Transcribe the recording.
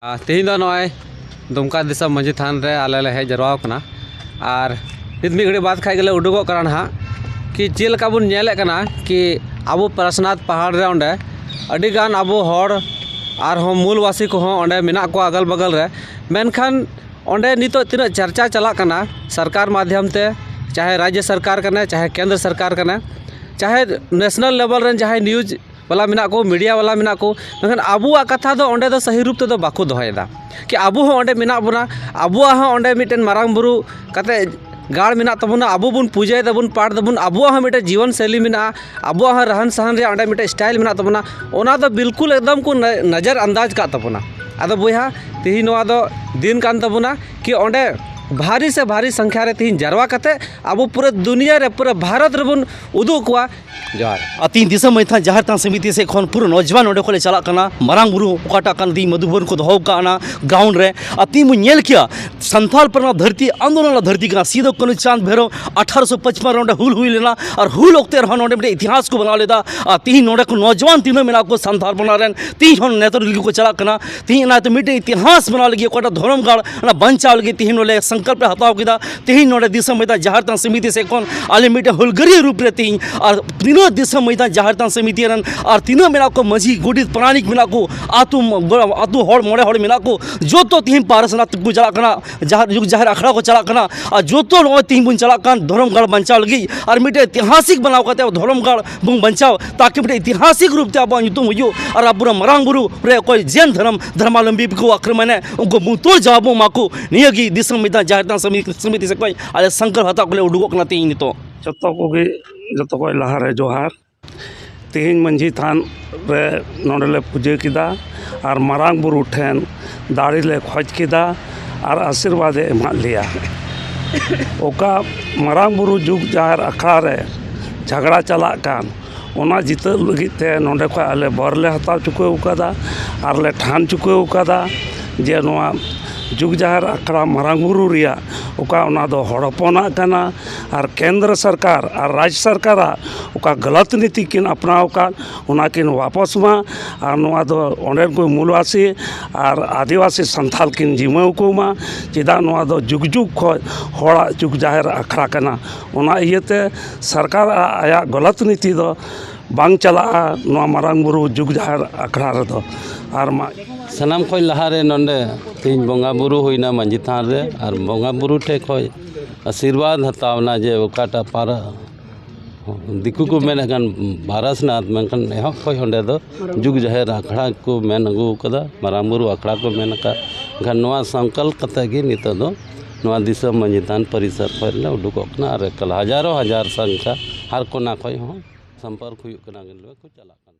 ᱛᱮᱦᱮᱧ ᱫᱚ ᱱᱚᱜᱼᱚᱭ ᱫᱩᱢᱠᱟ ᱫᱤᱥᱚᱢ ᱢᱟᱺᱡᱷᱤ ᱛᱷᱟᱱ ᱨᱮ ᱟᱞᱮ ᱞᱮ ᱦᱮᱡ ᱡᱟᱨᱣᱟ ᱟᱠᱟᱱᱟ ᱟᱨ ᱱᱤᱛ ᱢᱤᱫ ᱜᱷᱟᱹᱲᱤᱡ ᱵᱟᱫ ᱠᱷᱟᱡ ᱜᱮᱞᱮ ᱩᱰᱩᱠᱚᱜ ᱠᱟᱱᱟ ᱱᱟᱦᱟᱜ ᱠᱤ ᱪᱮᱫ ᱞᱮᱠᱟ ᱵᱚᱱ ᱧᱮᱞᱮᱫ ᱠᱟᱱᱟ ᱠᱤ ᱟᱵᱚ ᱯᱟᱨᱮᱥᱱᱟᱛᱷ ᱯᱟᱦᱟᱲ ᱨᱮ ᱚᱸᱰᱮ ᱟᱹᱰᱤ ᱜᱟᱱ ᱟᱵᱚ ᱦᱚᱲ ᱟᱨᱦᱚᱸ ᱢᱩᱞ ᱵᱟᱹᱥᱤ ᱠᱚᱦᱚᱸ ᱚᱸᱰᱮ ᱢᱮᱱᱟᱜ ᱠᱚᱣᱟ ᱟᱜᱚᱞ ᱵᱟᱜᱟᱞ ᱨᱮ ᱢᱮᱱᱠᱷᱟᱱ ᱚᱸᱰᱮ ᱱᱤᱛᱚᱜ ᱛᱤᱱᱟᱹᱜ ᱪᱟᱨᱪᱟ ᱪᱟᱞᱟᱜ ᱠᱟᱱᱟ ᱥᱚᱨᱠᱟᱨ ᱢᱟᱫᱽᱫᱷᱚᱢ ᱛᱮ ᱪᱟᱦᱮ ᱨᱟᱡᱽᱡᱚ ᱥᱚᱨᱠᱟᱨ ᱠᱟᱱᱟᱭ ᱪᱟᱦᱮ ᱠᱮᱱᱫᱨᱚ ᱥᱚᱨᱠᱟᱨ ᱠᱟᱱᱟᱭ ᱪᱟᱦᱮ ᱱᱮᱥᱱᱮᱞ ᱞᱮᱵᱮᱞ ᱨᱮᱱ ᱡᱟᱦᱟᱸᱭ ᱱᱤᱭᱩᱡᱽ ᱵᱟᱞᱟ ᱢᱮᱱᱟᱜ ᱠᱚ ᱢᱤᱰᱤᱭᱟ ᱵᱟᱞᱟ ᱢᱮᱱᱟᱜ ᱠᱚ ᱢᱮᱱᱠᱷᱟᱱ ᱟᱵᱚᱣᱟᱜ ᱠᱟᱛᱷᱟ ᱫᱚ ᱚᱸᱰᱮ ᱫᱚ ᱥᱟᱹᱦᱤ ᱨᱩᱯ ᱛᱮᱫᱚ ᱵᱟᱠᱚ ᱫᱚᱦᱚᱭᱮᱫᱟ ᱠᱤ ᱟᱵᱚ ᱦᱚᱸ ᱚᱸᱰᱮ ᱢᱮᱱᱟᱜ ᱵᱚᱱᱟ ᱟᱵᱚᱣᱟᱜ ᱦᱚᱸ ᱚᱸᱰᱮ ᱢᱤᱫᱴᱮᱱ ᱢᱟᱨᱟᱝ ᱵᱩᱨᱩ ᱠᱟᱛᱮᱫ ᱜᱟᱲ ᱢᱮᱱᱟᱜ ᱛᱟᱵᱚᱱᱟ ᱟᱵᱚ ᱵᱚᱱ ᱯᱩᱡᱟᱹᱭ ᱫᱟᱵᱚᱱ ᱯᱟᱴ ᱫᱟᱵᱚᱱ ᱟᱵᱚᱣᱟᱜ ᱦᱚᱸ ᱢᱤᱫᱴᱮᱱ ᱡᱤᱭᱚᱱ ᱥᱳᱭᱞᱤ ᱢᱮᱱᱟᱜᱼᱟ ᱟᱵᱚᱣᱟᱜ ᱦᱚᱸ ᱨᱟᱦᱟᱱ ᱥᱟᱦᱟᱱ ᱨᱮᱭᱟᱜ ᱚᱸᱰᱮ ᱢᱤᱫᱴᱮᱱ ᱥᱴᱟᱭᱤᱞ ᱢᱮᱱᱟᱜ ᱛᱟᱵᱚᱱᱟ ᱚᱱᱟ ᱫᱚ ᱵᱤᱞᱠᱩᱞ ᱮᱠᱫᱚᱢ ᱠᱚ ᱱᱚᱡᱚᱨ ᱟᱱᱫᱟᱡᱽ ᱠᱟᱜ ᱛᱟᱵᱚᱱᱟ ᱟᱫᱚ ᱵᱚᱭᱦᱟ ᱛᱮᱦᱮᱧ ᱱᱚᱣᱟ ᱫᱚ ᱫᱤᱱ ᱠᱟᱱ ᱛᱟᱵᱚᱱᱟ ᱠᱤ ᱚᱸᱰᱮ ᱵᱷᱟᱹᱨᱤ ᱥᱮ ᱵᱷᱟᱹᱨᱤ ᱥᱚᱝᱠᱷᱟ ᱨᱮ ᱛᱮᱦᱮᱧ ᱡᱟᱨᱣᱟ ᱠᱟᱛᱮᱫ ᱟᱵᱚ ᱯᱩᱨᱟᱹ ᱫᱩᱱᱤᱭᱟᱹ ᱨᱮ ᱯᱩᱨᱟᱹ ᱵᱷᱟᱨᱚᱛ ᱨᱮᱵᱚᱱ ᱩᱫᱩᱜ ᱟᱠᱚᱣᱟ ᱡᱚᱦᱟᱨ ᱟᱨ ᱛᱤᱱ ᱫᱤᱥᱚᱢ ᱢᱟᱹᱭ ᱛᱷᱟᱱ ᱡᱟᱦᱮᱨ ᱛᱷᱟᱱ ᱥᱚᱢᱤᱛᱤ ᱥᱮᱫ ᱠᱷᱚᱱ ᱯᱩᱨᱟᱹ ᱱᱚᱡᱽᱣᱟᱱ ᱚᱸᱰᱮ ᱠᱷᱚᱱ ᱞᱮ ᱪᱟᱞᱟᱜ ᱠᱟᱱᱟ ᱢᱟᱨᱟᱝ ᱵᱩᱨᱩ ᱚᱠᱟᱴᱟᱜ ᱠᱟᱱ ᱛᱤᱧ ᱢᱟᱫᱷᱩᱵᱚᱱ ᱠᱚ ᱫᱚᱦᱚ ᱠᱟᱜ ᱚᱱᱟ ᱜᱨᱟᱣᱩᱱᱰ ᱨᱮ ᱟᱨ ᱛᱤᱧ ᱵᱚᱱ ᱧᱮᱞ ᱠᱮᱭᱟ ᱥᱟᱱᱛᱟᱲ ᱯᱟᱨᱜᱟᱱᱟ ᱫᱷᱟᱹᱨᱛᱤ ᱟᱱᱫᱳᱞᱚᱱ ᱨᱮᱱᱟᱜ ᱫᱷᱟᱹᱨᱛᱤ ᱠᱟᱱᱟ ᱥᱤᱫᱩ ᱠᱟᱹᱱᱩ ᱪᱟᱸᱫᱽ ᱵᱷᱮᱨᱚ ᱟᱴᱷᱟᱨᱚᱥᱚ ᱯᱟᱸᱪᱯᱟᱱ ᱨᱮ ᱚᱸᱰᱮ ᱦᱩᱞ ᱦᱩᱭ ᱞᱮᱱᱟ ᱟᱨ ᱦᱩᱞ ᱚᱠᱛᱮ ᱨᱮᱦᱚᱸ ᱱᱚᱸᱰᱮ ᱢᱤᱫᱴᱮᱱ ᱤᱛᱤᱦᱟᱥ ᱠᱚ ᱵᱮᱱᱟᱣ ᱞᱮᱫᱟ ᱟᱨ ᱛᱤᱦᱤᱧ ᱱᱚᱸᱰᱮ ᱠᱚ ᱱᱚᱡᱽᱣᱟᱱ ᱛᱤᱱᱟᱹᱜ ᱢᱮᱱᱟᱜ ᱠᱚᱣᱟ ᱥᱟᱱᱛᱟᱲ ᱯᱟᱨᱜᱟᱱᱟ ᱨᱮᱱ ᱛᱤᱦᱤᱧ ᱦᱚᱸ ᱱᱮᱛᱟᱨ ᱨᱮᱜᱮ ᱠᱚ ᱪᱟᱞᱟᱜ ᱠᱟᱱᱟ ᱛᱮᱦᱮᱧ ᱚᱱᱟᱛᱮ ᱢᱤᱫᱴᱮᱱ ᱤᱛᱤᱦᱟᱥ ᱵᱮᱱᱟᱣ ᱞᱟᱹᱜᱤᱫ ᱚᱠᱟᱴᱟᱜ ᱫᱷᱚᱨᱚᱢ ᱜᱟᱲ ᱚᱱᱟ ᱵᱟᱧᱪᱟᱣ ᱞᱟᱹᱜᱤᱫ ᱛᱮᱦᱮᱧ ᱱᱚᱰᱮ ᱥᱚᱝᱠᱚᱞᱯ ᱞᱮ ᱦᱟᱛᱟᱣ ᱠᱮᱫᱟ ᱛᱮᱦᱮᱧ ᱱᱚᱰᱮ ᱫᱤᱥᱚᱢ ᱢᱚᱭᱫᱟᱱ ᱡᱟᱦᱮᱨ ᱛᱷᱟᱱ ᱥᱚᱢᱤᱛᱤ ᱥᱮᱫ ᱠᱷᱚᱱ ᱟᱞᱮ ᱢᱤᱫᱴᱮᱱ ᱦᱩᱞᱜᱟᱹᱨᱤᱭᱟᱹ ᱨᱩᱯ ᱨᱮ ᱛᱮᱦᱮᱧ ᱟᱨ ᱛᱤᱱᱟᱹᱜ ᱫᱤᱥᱚᱢ ᱢᱚᱭᱫᱟᱱ ᱡᱟᱦᱮᱨ ᱛᱷᱟᱱ ᱥᱚᱢᱤᱛᱤ ᱨᱮᱱ ᱟᱨ ᱛᱤᱱᱟᱹᱜ ᱢᱮᱱᱟᱜ ᱠᱚ ᱢᱟᱹᱡᱷᱤ ᱜᱚᱰᱮᱛ ᱯᱟᱨᱟᱱᱤᱠ ᱢᱮᱱᱟᱜ ᱠᱚ ᱟᱛᱳ ᱟᱛᱳ ᱦᱚᱲ ᱢᱚᱬᱮ ᱦᱚᱲ ᱢᱮᱱᱟᱜ ᱠᱚ ᱡᱚᱛᱚ ᱛᱮᱦᱮᱧ ᱯᱟᱨᱥᱚᱱᱟᱛᱷ ᱠᱚ ᱪᱟᱞᱟᱜ ᱠᱟᱱᱟ ᱡᱟᱦᱟᱸ ᱡᱩᱜᱽ ᱡᱟᱦᱮᱨ ᱟᱠᱷᱲᱟ ᱠᱚ ᱪᱟᱞᱟᱜ ᱠᱟᱱᱟ ᱟᱨ ᱡᱚᱛᱚ ᱱᱚᱜᱼᱚᱭ ᱛᱮᱦᱮᱧ ᱵᱚᱱ ᱪᱟᱞᱟᱜ ᱠᱟᱱ ᱫᱷᱚᱨᱚᱢ ᱜᱟᱲ ᱵᱟᱧᱪᱟᱣ ᱞᱟᱹᱜᱤᱫ ᱟᱨ ᱢᱤᱫᱴᱮᱱ ᱤᱛᱤᱦᱟᱥᱤᱠ ᱵᱮᱱᱟᱣ ᱠᱟᱛᱮᱫ ᱫᱷᱚᱨᱚᱢ ᱜᱟᱲ ᱵᱚᱱ ᱵᱟᱧᱪᱟᱣ ᱛᱟᱠᱤ ᱢᱤᱫᱴᱮᱱ ᱤᱛᱤᱦᱟᱥᱤᱠ ᱨᱩᱯ ᱛᱮ ᱟᱵᱚᱣᱟᱜ ᱧᱩᱛᱩᱢ ᱦᱩᱭᱩᱜ ᱟᱨ ᱟᱵᱚᱨᱮᱱ ᱢᱟᱨᱟᱝ ᱵᱩᱨᱩ ᱨᱮ ᱚᱠᱚᱭ ᱡᱮᱱ ᱫᱷᱚᱨᱚᱢ ᱫᱷᱚᱨᱢᱟᱞᱚᱢᱵᱤ ᱠᱚ ᱟᱠᱨᱚᱢᱚᱱᱮ ᱩᱱᱠᱩ ᱵᱩᱛᱩᱞ ᱡᱟᱣᱟᱵ ᱵᱚᱱ ᱮᱢᱟ ᱠᱚ ᱱᱤᱭᱟᱹᱜᱮ ᱫᱤᱥᱚᱢ ᱢᱤᱫ ᱫᱷᱟᱣ ᱡᱟᱦᱮᱨ ᱛᱷᱟᱱ ᱥᱚᱢᱤᱛᱤ ᱥᱮᱫ ᱠᱷᱚᱱ ᱟᱞᱮ ᱥᱚᱝᱠᱚᱞᱯ ᱦᱟᱛᱟᱣ ᱠᱟᱛᱮᱫ ᱞᱮ ᱩᱰᱩᱠᱚᱜ ᱠᱟᱱᱟ ᱛᱮᱦᱤᱧ ᱱᱤᱛᱚᱜ ᱡᱚᱛᱚ ᱠᱚᱜᱮ ᱡᱚᱛᱚ ᱠᱷᱚᱱ ᱞᱟᱦᱟᱨᱮ ᱡᱚᱦᱟᱨ ᱛᱮᱦᱤᱧ ᱢᱟᱹᱡᱷᱤ ᱛᱷᱟᱱ ᱨᱮ ᱱᱚᱸᱰᱮ ᱞᱮ ᱯᱩᱡᱟᱹ ᱠᱮᱫᱟ ᱟᱨ ᱢᱟᱨᱟᱝ ᱵᱩᱨᱩ ᱴᱷᱮᱱ ᱫᱟᱲᱮ ᱞᱮ ᱠᱷᱚᱡᱽ ᱠᱮᱫᱟ ᱟᱨ ᱟᱥᱤᱨᱵᱟᱫᱽ ᱮ ᱮᱢᱟᱜ ᱞᱮᱭᱟ ᱚᱠᱟ ᱢᱟᱨᱟᱝ ᱵᱩᱨᱩ ᱡᱩᱜᱽ ᱡᱟᱦᱮᱨ ᱟᱠᱷᱲᱟ ᱨᱮ ᱡᱷᱟᱜᱽᱲᱟ ᱪᱟᱞᱟᱜ ᱠᱟᱱ ᱚᱱᱟ ᱡᱤᱛᱟᱹᱣ ᱞᱟᱹᱜᱤᱫ ᱛᱮ ᱱᱚᱸᱰᱮ ᱠᱷᱚᱱ ᱟᱞᱮ ᱵᱚᱨ ᱞᱮ ᱦᱟᱛᱟᱣ ᱪᱩᱠᱟᱹᱣ ᱠᱟᱫᱟ ᱟᱨ ᱞᱮ ᱴᱷᱟᱱ ᱪᱩᱠᱟᱹᱣ ᱠᱟᱫᱟ ᱡᱮ ᱱᱚᱣᱟ ᱡᱩᱜᱽ ᱡᱟᱦᱮᱨ ᱟᱠᱷᱲᱟ ᱢᱟᱨᱟᱝ ᱵᱩᱨᱩ ᱨᱮᱭᱟᱜ ᱚᱠᱟ ᱚᱱᱟ ᱫᱚ ᱦᱚᱲ ᱦᱚᱯᱚᱱᱟᱜ ᱠᱟᱱᱟ ᱟᱨ ᱠᱮᱱᱫᱨᱚ ᱥᱚᱨᱠᱟᱨ ᱟᱨ ᱨᱟᱡᱽ ᱥᱚᱨᱠᱟᱨᱟᱜ ᱚᱠᱟ ᱜᱟᱞᱟᱛ ᱱᱤᱛᱤ ᱠᱤᱱ ᱟᱯᱱᱟᱣ ᱟᱠᱟᱫ ᱚᱱᱟ ᱠᱤᱱ ᱵᱟᱯᱚᱥ ᱢᱟ ᱟᱨ ᱱᱚᱣᱟ ᱫᱚ ᱚᱸᱰᱮᱱ ᱠᱚ ᱢᱩᱞᱵᱟᱥᱤ ᱟᱨ ᱟᱹᱫᱤᱵᱟᱹᱥᱤ ᱥᱟᱱᱛᱟᱲ ᱠᱤᱱ ᱡᱤᱢᱟᱹᱣ ᱠᱚᱢᱟ ᱪᱮᱫᱟᱜ ᱱᱚᱣᱟ ᱫᱚ ᱡᱩᱜᱽ ᱡᱩᱜᱽ ᱠᱷᱚᱱ ᱦᱚᱲᱟᱜ ᱡᱩᱜᱽ ᱡᱟᱦᱮᱨ ᱟᱠᱷᱲᱟ ᱠᱟᱱᱟ ᱚᱱᱟ ᱤᱭᱟᱹᱛᱮ ᱥᱚᱨᱠᱟᱨ ᱟᱭᱟᱜ ᱜᱟᱞᱟᱛ ᱱᱤᱛᱤ ᱫᱚ ᱵᱟᱝ ᱪᱟᱞᱟᱜᱼᱟ ᱱᱚᱣᱟ ᱢᱟᱨᱟᱝ ᱵᱩᱨᱩ ᱡᱩᱜᱽ ᱡᱟᱦᱮᱨ ᱟᱠᱷᱲᱟ ᱨᱮᱫᱚ ᱟᱨ ᱢᱟ ᱥᱟᱱᱟᱢ ᱠᱷᱚᱱ ᱞᱟᱦᱟᱨᱮ ᱱᱚᱰᱮ ᱛᱮᱦᱮᱧ ᱵᱚᱸᱜᱟᱼᱵᱩᱨᱩ ᱦᱩᱭᱱᱟ ᱢᱟᱹᱡᱷᱤ ᱛᱷᱟᱱ ᱨᱮ ᱟᱨ ᱵᱚᱸᱜᱟᱼᱵᱩᱨᱩ ᱴᱷᱮᱱ ᱠᱷᱚᱱ ᱟᱥᱤᱨᱵᱟᱫᱽ ᱦᱟᱛᱟᱣ ᱮᱱᱟ ᱡᱮ ᱚᱠᱟᱴᱟᱜ ᱯᱟᱨᱟ ᱫᱤᱠᱩ ᱠᱚ ᱢᱮᱱᱮᱫ ᱠᱟᱱ ᱯᱟᱨᱮᱥᱱᱟᱛᱷ ᱢᱮᱱᱠᱷᱟᱱ ᱮᱦᱚᱵ ᱠᱷᱚᱱ ᱚᱸᱰᱮ ᱫᱚ ᱡᱩᱜᱽ ᱡᱟᱦᱮᱨ ᱟᱠᱷᱲᱟ ᱠᱚ ᱢᱮᱱ ᱟᱹᱜᱩ ᱠᱟᱫᱟ ᱢᱟᱨᱟᱝ ᱵᱩᱨᱩ ᱟᱠᱷᱲᱟ ᱠᱚ ᱢᱮᱱ ᱠᱟᱜ ᱢᱮᱱᱠᱷᱟᱱ ᱱᱚᱣᱟ ᱥᱟᱝᱠᱟᱞ ᱠᱟᱛᱮ ᱜᱮ ᱱᱤᱛᱚᱜ ᱫᱚ ᱱᱚᱣᱟ ᱫᱤᱥᱚᱢ ᱢᱟᱹᱡᱷᱤ ᱛᱷᱟᱱ ᱯᱚᱨᱤᱥᱚᱨ ᱠᱷᱚᱱ ᱞᱮ ᱩᱰᱩᱠᱚᱜ ᱠᱟᱱᱟ ᱟᱨ ᱮᱠᱟᱞ ᱦᱟᱡᱟᱨᱚ ᱦᱟᱡᱟᱨ ᱥᱚᱝᱠᱷᱟ ᱦᱟᱨ ᱠᱚᱱᱟ ᱠᱷᱚᱱ ᱦᱚᱸ ᱥᱚᱢᱯᱚᱨᱠ ᱦᱩᱭᱩᱜ ᱠᱟᱱᱟ ᱜᱟᱹᱰᱤ ᱠᱚ ᱪᱟᱞᱟᱜ ᱠᱟᱱᱟ